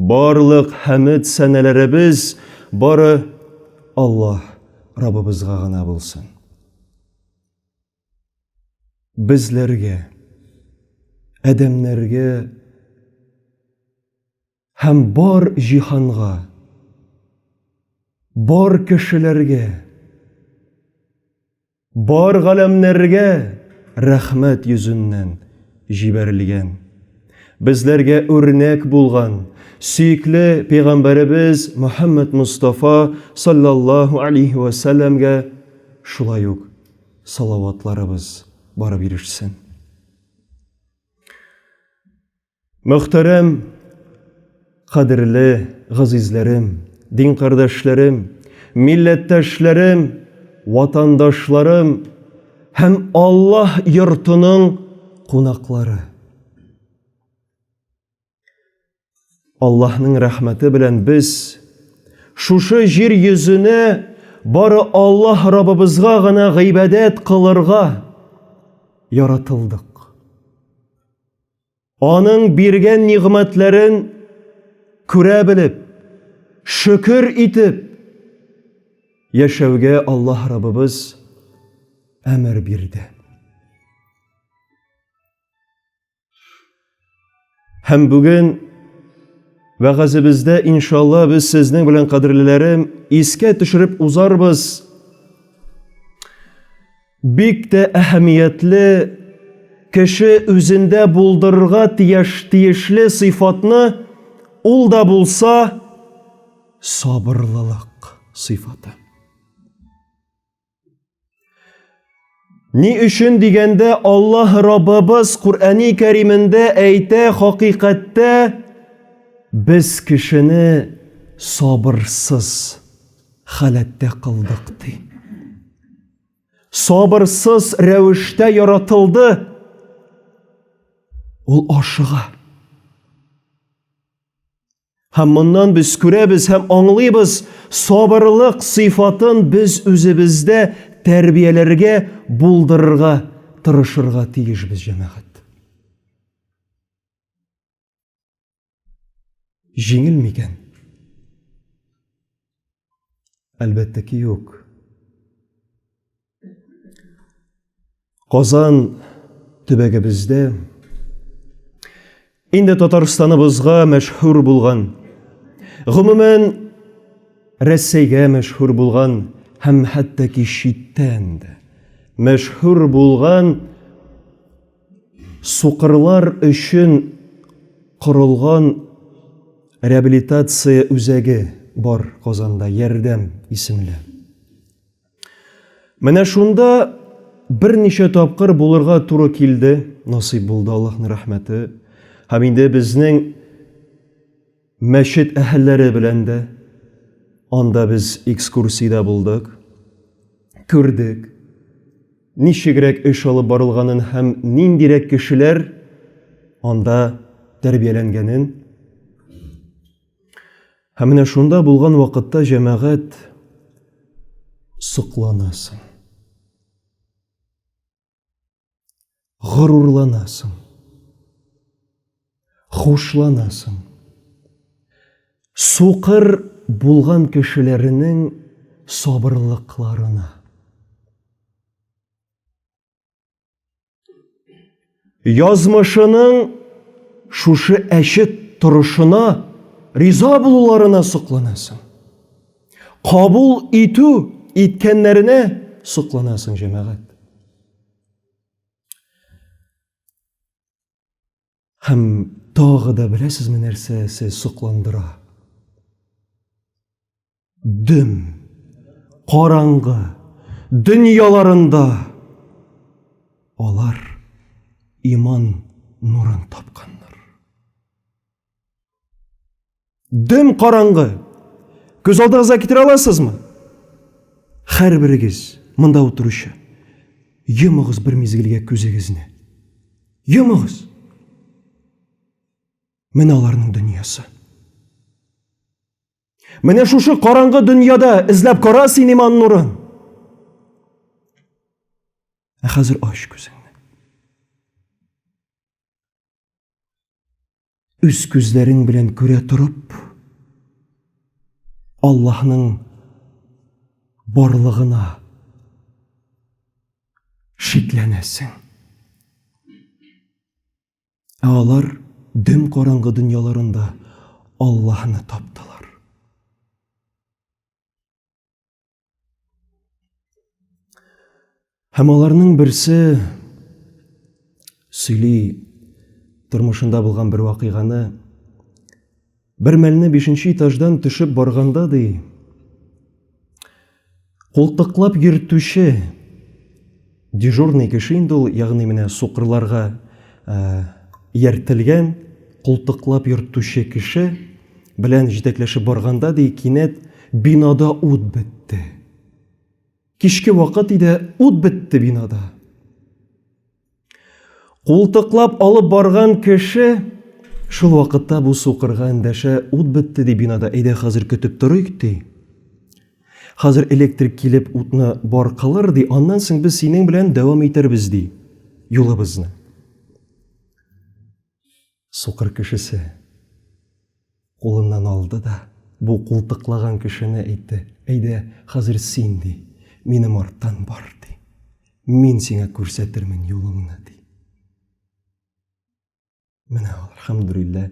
Барлык хәмед сәнәләребез бары Аллаһ Раббыбызга гына булсын. Безләргә, адәмнәргә һәм бар җиһанга, бар кешеләргә Бар галәмнәргә рәхмәт йөзеннән җибәрелгән. Безләргә үрнәк булган сөекле пәйгамбәребез Мөхәммәд Мустафа саллаллаһу алейһи ва сәлләмгә шулай ук салаватларыбыз барып ирешсен. Мөхтәрәм, кадерле газизләрем, дин кардәшләрем, милләттәшләрем, ватандашларым һәм Аллаһ йортының кунаклары! Аллаһның рәхмәте белән без шушы җир йөзенә бары Аллаһ Раббыбызга гына гыйбадәт кылырга яратылдык. Аның биргән нигъмәтләрен күрә белеп, шөкер итеп яшәүгә Аллаһ Раббыбыз әмер бирде. Һәм бүген вәгазебездә иншалла без сезнең белән кадерлеләрем искә төшереп узарбыз. Бик тә әһәмиятле, кеше үзендә булдырырга тияш тиешле сыйфатны ул да булса сабырлылык сыйфаты. Ни өчен дигәндә Аллаһ Раббыбыз Куръәни Кәримендә әйтә хакыйкатьтә без кешене сабырсыз халәттә кылдык ди. сабырсыз рәвештә яратылды. Ул ашыга. Һәм моннан без күрәбез һәм аңлыйбыз, сабырлык сыйфатын без үзебездә тәрбияләргә, булдырырга тырышырга тиешбез, җәмәгать. Җиңел микән? Әлбәттә ки, юк. Казан төбәгебездә инде Татарстаныбызга мәшһүр булган, гомумән Рәсәйгә мәшһүр булган һәм хәтта ки читтән дә мәшһүр булган Сукырлар өчен корылган реабилитация үзәге бар Казанда, Ярдәм исемле. Менә шунда берничә тапкыр булырга туры килде, насыйп булды, Аллаһның рәхмәте. Һәм инде безнең Мәчет әһелләре белән дә анда без экскурсиядә булдык, күрдек, ничегрәк эш алып барылганын һәм ниндирәк кешеләр анда тәрбияләнгәнен. Һәм менә шунда булган вакытта, җәмәгать, сокланасың. горурланасың, хушланасың. Сукыр булган кешеләренең сабырлыкларына. Язмышының шушы әче торышына риза булуларына сокланасың. Кабул итү иткәннәренә сокланасың, җәмәгать. Һәм тагы да беләсезме нәрсәсе сокландыра? Дөм, караңгы, дөньяларында алар иман нурын тапканнар. Дөм караңгы. Күз алдыгызга китерә аласызмы? Хәрберегез монда утыручы. Йомыгыз бер мизгелгә күзегезне. Йомыгыз. Менә аларның дөньясы. Менә шушы караңгы дөньяда эзләп кара син иман нурын. Ә хәзер ач күзеңне. Үз күзләрең белән күрә торып, Аллаһның барлыгына шикләнәсең. Ә алар дөм караңгы дөньяларында Аллаһны таптылар. Һәм аларның берсе сөйли тормышында булган бер вакыйганы. Бер мәлне бишенче этаждан төшеп барганда ди, култыклап йөртүче Дежурный кеше инде ул, ягъни менә сукырларга ияртелгән култыклап йөртүче кеше белән җитәкләшеп барганда, ди, кинәт бинада ут бетте. Кичке вакыт иде, ут бетте бинада. Култыклап алып барган кеше шул вакытта бу сукырга эндәшә, ут бетте, ди бинада, әйдә хәзер көтеп торыйк, ди. Хәзер электрик килеп утны бар кылыр, ди, аннан соң без синең белән дәвам итәрбез, ди, юлыбызны. Сукыр кешесе кулыннан алды да, бу култыклаган кешене әйтте, әйдә, хәзер син, ди, минем арттан бар, ди, мин сиңа күрсәтермен юлыңны, ди. Менә ул, алхамдулилләһ,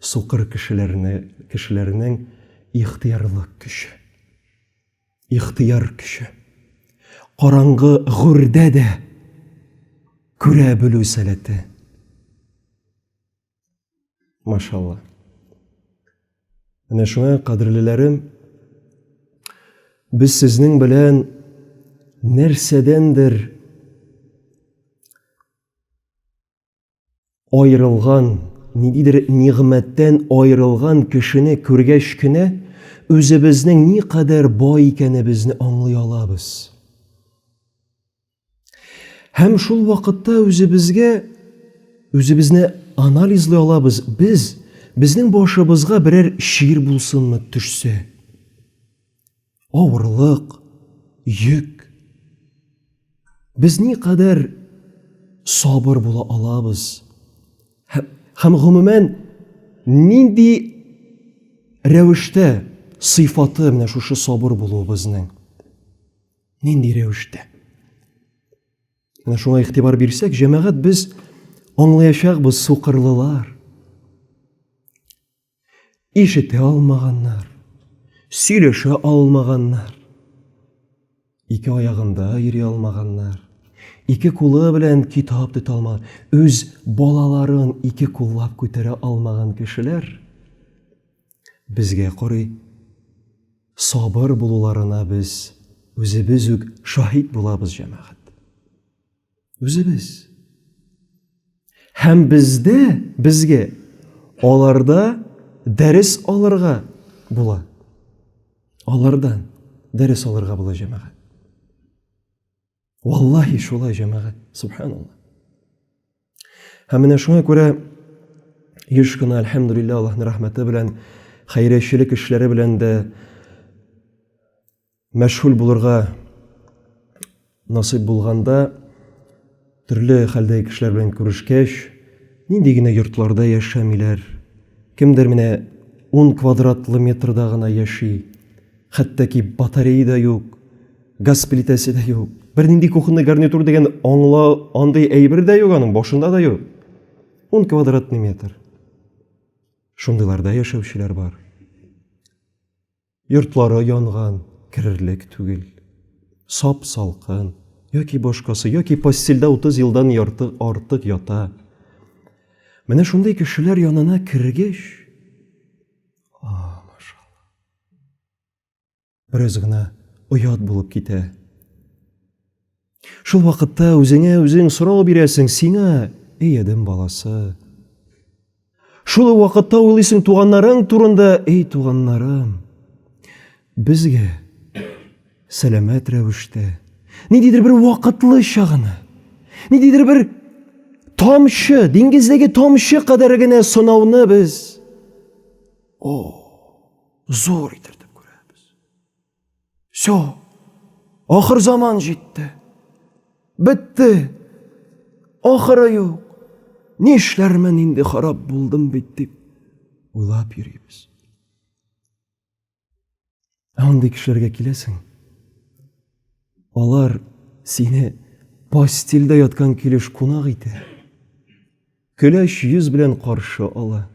сукыр кешеләрне, кешеләрнең ихтиярлык көче. Ихтияр көче. Караңгы гүрдә дә күрә белү сәләте. Машалла. Менә шуңа, кадерлеләрем, без сезнең белән нәрсәдәндер Аерылган, ниндидер нигъмәттән аерылган кешене күргәч кенә, үзебезнең никадәр бай икәнебезне аңлый алабыз. Һәм шул вакытта үзебезгә үзебезне анализлый алабыз. Без безнең башыбызга берәр чир булсынмы төшсә, авырлык, йөк. Без ни кадәр сабыр була алабыз? Һәм гомумән нинди рәвештә сыйфаты менә шушы сабыр булуыбызның? Нинди рәвештә? Менә шуңа игътибар бирсәк, җәмәгать без аңлаячакбыз сукырлылар. Ишетә алмаганнар, сөйләшә алмаганнар. Ике аягында йөри алмаганнар. Ике кулы белән китап тота алмаган, үз балаларын ике куллап күтәрә алмаган кешеләр безгә карый сабыр булуларына без үзебез үк шаһит булабыз, җәмәгать. Үзебез. Һәм бездә, безгә аларда дәрес алырга була. Алардан дәрес алырга була җәмәгать. Валлахи шулай җәмәгать, субханалла. Һәм менә шуңа күрә еш кына альхамдулилла Аллаһның рәхмәте белән хәйречелек эшләре белән дә Мәшһүл булырга насыйп булганда, төрле хәлдәге кешеләр белән күрешкәч, нинди генә йортларда яшәмиләр. Кемдер менә 10 квадратлы метрда гына яши. Хәтта ки батарея да юк, газ плитәсе дә юк. Бернинди кухонный гарнитур дигән аңла андый әйбер дә юк аның, башында да юк. 10 квадратный метр. Шундыйларда яшәүчеләр бар. Йортлары янган, керерлек түгел. Сап салкын, яки башкасы, яки постельдә 30 елдан ярты артык ята. Менә шундый кешеләр янына кергеш, а, машалла. Бераз гына оят булып китә. Шул вакытта үзеңә үзең сорау бирәсең, сиңа, эй адәм баласы. Шул вакытта уйлыйсың туганнарың турында, эй туганнарым. Безгә сәламәт рәвештә ниндидер бер вакытлыча гына, ниндидер бер тамчы, диңгездәге тамчы кадәр генә сынауны без о, зур итеп күрәбез. Все, ахыр заман җитте. Бетте. Ахыры юк. Нишләрмен инде харап булдым бит дип уйлап йөрибез. Андый кешеләргә киләсең. Алар сине постельдә яткан килеш кунак итә. Көләч йөз белән каршы ала.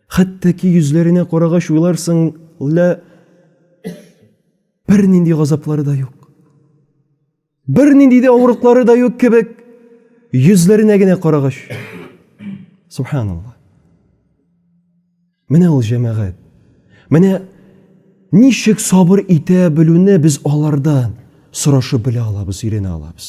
Хәтта ки йөзләренә карагач уйларсың, лә бер нинди газаплары да юк. Бер нинди дә авырыклары да юк кебек, йөзләренә генә карагач. Субханаллаһ. Менә ул җәмәгать. Менә ничек сабыр итә белүне без алардан сорашып белә алабыз, өйрәнә алабыз.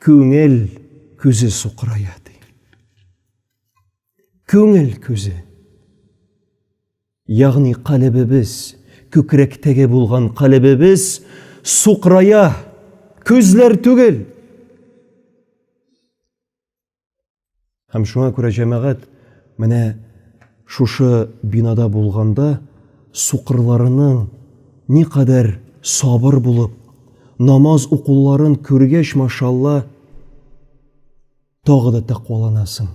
Күңел күзе сукырая ди. Күңел күзе. Ягъни калебебез, күкрәктәге булган калебебез сукырая, күзләр түгел. Һәм шуңа күрә җәмәгать менә шушы бинада булганда сукырларының никадәр сабыр булып, намаз укуларын күргәч, машалла, тагы да тәкъваланасың.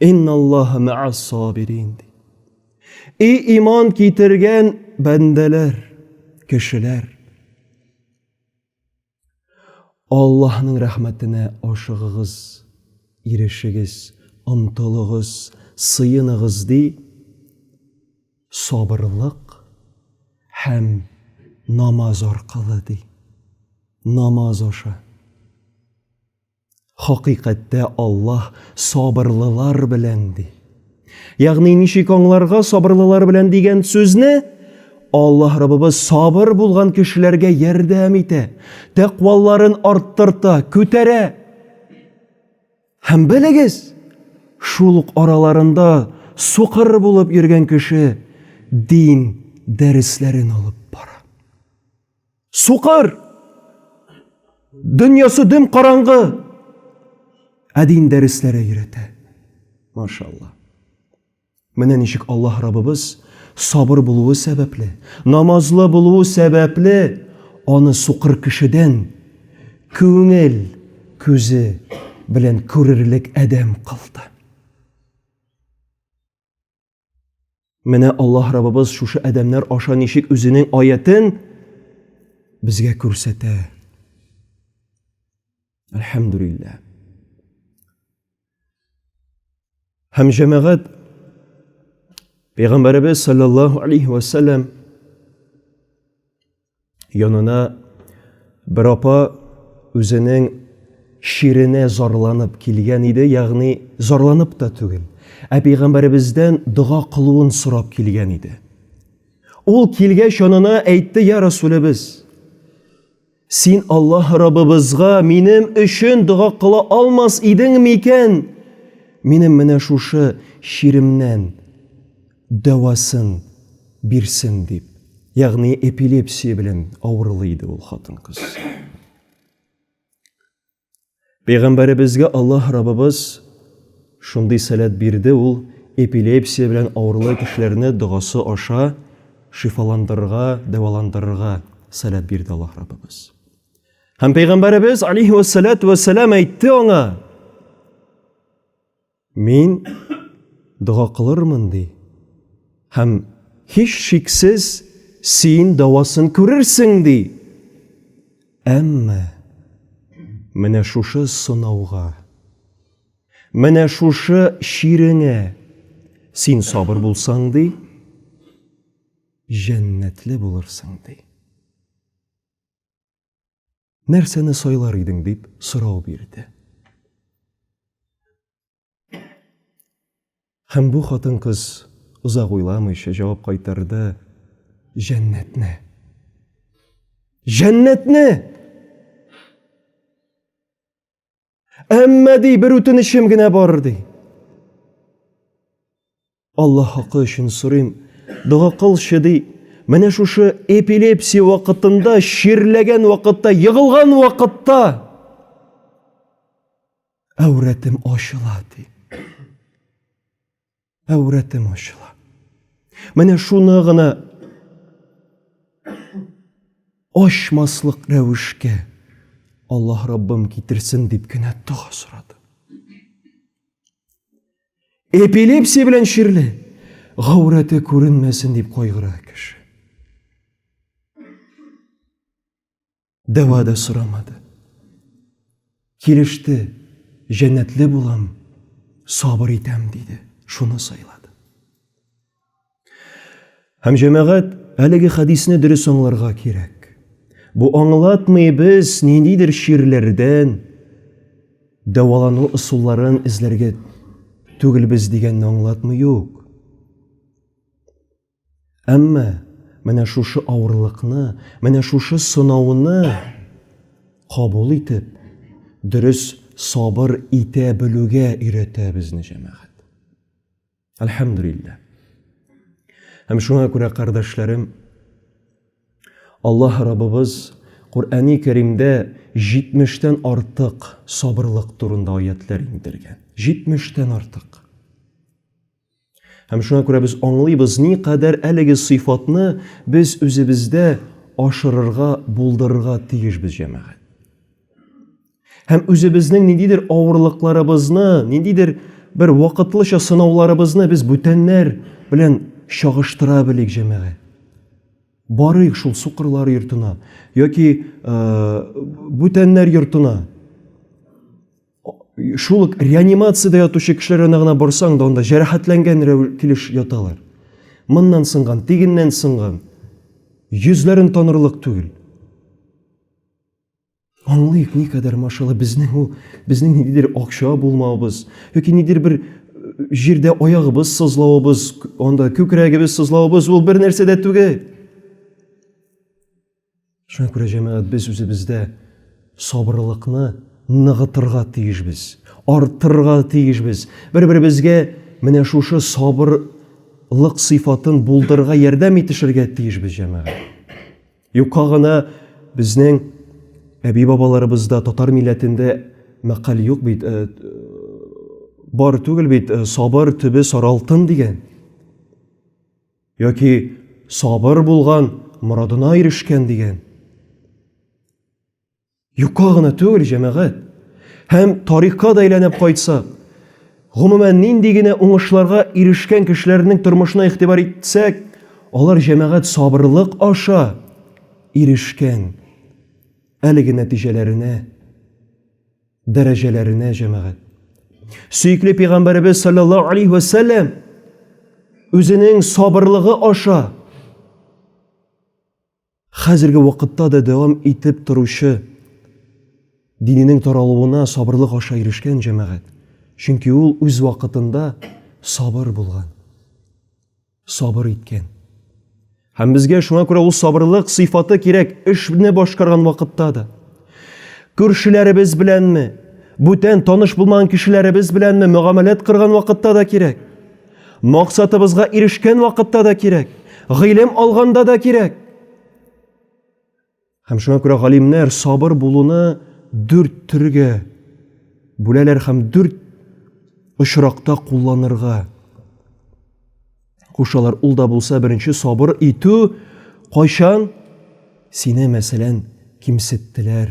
Инналлаһа мәас сабирин. И иман китергән бәндәләр, кешеләр. Аллаһның рәхмәтенә ашыгыгыз, ирешегез, омтылыгыз, сыеныгыз ди. Сабырлык һәм намаз аркылы ди. Намаз аша. Хакыйкатьтә Аллаһ сабырлылар белән ди. Ягъни ничек аңларга сабырлылар белән дигән сүзне? Аллаһ Раббыбыз сабыр булган кешеләргә ярдәм итә, тәкъваларын арттырта, күтәрә. Һәм белегез, шул ук араларында сукыр булып йөргән кеше дин дәресләрен алып бара. Сукыр! Дөньясы дөм караңгы. Ә дин дәресләре өйрәтә. Машалла. Менә ничек Аллаһ Раббыбыз сабыр булуы сәбәпле, намазлы булуы сәбәпле аны сукыр кешедән күңел күзе белән күрерлек адәм кылды. Менә Аллаһ Раббыбыз шушы адәмнәр аша ничек үзенең аятен безгә күрсәтә. Әлхәмдүлилләһ. Һәм җәмәгать Пәйгамбәребез саллаллаһу алейхи ва саллям Янына бер апа үзенең ширенә зарланып килгән иде, ягъни зарланып та түгел, ә пәйгамбәребездән дога кылуын сорап килгән иде. Ул килгәч янына әйтте, я Расулебез, син Аллаһ Раббыбызга минем өчен дога кыла алмас идең микән? Минем менә шушы ширемнән дәвасын бирсен дип, ягъни эпилепсия белән авырлый иде ул хатын-кыз. Пәйгамбәребезгә Аллаһ Раббыбыз шундый сәләт бирде, ул эпилепсия белән авырлы кешеләрне догасы аша шифаландырырга, дәваландырырга сәләт бирде Аллаһ Раббыбыз. Һәм пәйгамбәребез алейһи вассалату вассалам әйтте аңа: Мин дога кылырмын, ди. Һәм һич шиксез син дәвасын күрерсең, ди. Әмма менә шушы сынауга, менә шушы чиреңә син сабыр булсаң, ди, җәннәтле булырсың, ди. нәрсәне сайлар идең дип сорау бирде. Һәм бу хатын-кыз озак уйламыйча җавап кайтарды: Җәннәтне. Җәннәтне! Әмма ди, бер үтенечем генә бар ди. Аллаһ хакы өчен сорыйм, дога кылчы ди. Менә шушы эпилепсия вакытында, чирләгән вакытта, егылган вакытта әүрәтем ачыла ди. Әүрәтем ачыла. Менә шуны гына ачмаслык рәвешкә Аллаһ Раббым китерсен дип кенә дога сорады. Эпилепсия белән чирле гаурәте күренмәсен дип кайгыра кеше. Дәва да сорамады. Килеште, җәннәтле булам, сабыр итәм, диде. Шуны сайлады. Һәм җәмәгать әлеге хәдисне дөрес аңларга кирәк. Бу аңлатмый без ниндидер чирләрдән дәвалану ысулларын эзләргә түгелбез дигәнне аңлатмый юк. Әмма менә шушы авырлыкны, менә шушы сынауны кабул итеп, дөрес сабыр итә белүгә өйрәтә безне җәмәгать. Әлхәмдүлилләһ. Һәм шуңа күрә, кардәшләрем, Аллаһ Раббыбыз Куръәни Кәримдә 70-тән артык сабырлык турында аятләр иңдергән. 70-тән артык. Һәм шуңа күрә без аңлыйбыз, ни кадәр әлеге сыйфатны без үзебездә ашырырга, булдырырга тиешбез, җәмәгать. Һәм үзебезнең ниндидер авырлыкларыбызны, ниндидер бер вакытлыча сынауларыбызны без бүтәннәр белән чагыштыра белик, җәмәгать. Барыйк шул сукырлар йортына яки э, бүтәннәр йортына. шул ук реанимациядә ятучы кешеләренә генә барсаң да, анда җәрәхәтләнгән килеш яталар. Моннан сынган, тигеннән сынган. Йөзләрен танырлык түгел. Аңлыйк, ни кадәр машала безнең ул, безнең ниндидер акча булмавыбыз, яки нидер бер җирдә аягыбыз сызлавыбыз, анда күкрәгебез сызлавыбыз ул бер нәрсә дә түгел. Шуңа күрә, җәмәгать, без үзебездә сабырлыкны ныгытырга тиешбез, арттырырга тиешбез. Бер-беребезгә менә шушы сабырлык сыйфатын булдырырга ярдәм итешергә тиешбез, җәмәгать. Юкка гына безнең әби-бабаларыбызда татар милләтендә мәкаль юк бит, э, бар түгел бит, э, сабыр төбе саралтын дигән. Яки сабыр булган, морадына ирешкән дигән. Юкка гына түгел, җәмәгать. Һәм тарихка да әйләнеп кайтсак, гомумән нинди генә уңышларга ирешкән кешеләрнең тормышына игътибар итсәк, алар җәмәгать сабырлык аша ирешкән әлеге нәтиҗәләренә. дәрәҗәләренә җәмәгать. Сөекле пәйгамбәребез саллаллаһу алейхи ва сәлләм үзенең сабырлыгы аша хәзерге вакытта да дәвам итеп торучы диненең таралуына сабырлык аша ирешкән җәмәгать. Чөнки ул үз вакытында сабыр булган. Сабыр иткән. Һәм безгә шуңа күрә ул сабырлык сыйфаты кирәк эшне башкарган вакытта да. Күршеләребез беләнме, бүтән таныш булмаган кешеләребез беләнме мөгамәләт кырган вакытта да кирәк. Максатыбызга ирешкән вакытта да кирәк. Гыйлем алганда да кирәк. Һәм шуңа күрә галимнәр сабыр булуны дүрт төргә бүләләр һәм дүрт очракта кулланырга кушалар. Ул да булса беренче сабыр итү кайчан сине мәсәлән кимсеттеләр.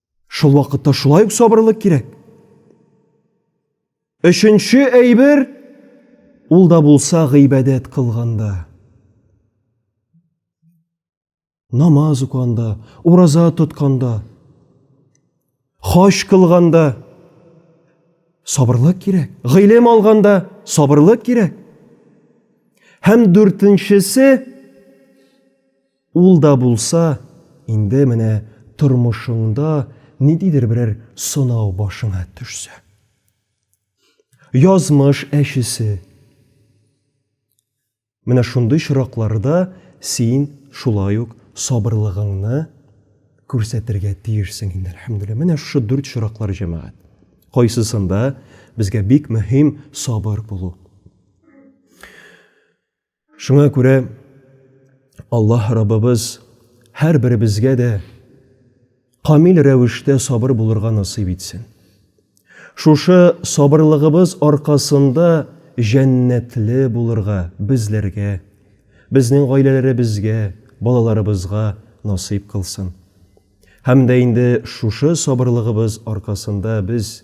Шул вакытта шулай ук сабырлык кирәк. Өченче әйбер ул да булса гыйбадәт кылганда. Намаз уканда, ураза тотканда, хаҗ кылганда сабырлык кирәк. Гыйлем алганда сабырлык кирәк. Һәм дүртенчесе Ул да булса, инде менә тормышыңда ниндидер берәр сынау башыңа төшсә. Язмыш әчесе. Менә шундый чоракларда син шулай ук сабырлыгыңны күрсәтергә тиешсең инде, әлхәмдүлилләһ. Менә шушы дүрт чораклар, җәмәгать. Кайсысында безгә бик мөһим сабыр булу. Шуңа күрә Аллаһ Раббыбыз һәрберебезгә дә камил рәвештә сабыр булырга насыйп итсен. Шушы сабырлыгыбыз аркасында җәннәтле булырга безләргә, безнең гаиләләребезгә, балаларыбызга насыйп кылсын. Һәм дә инде шушы сабырлыгыбыз аркасында без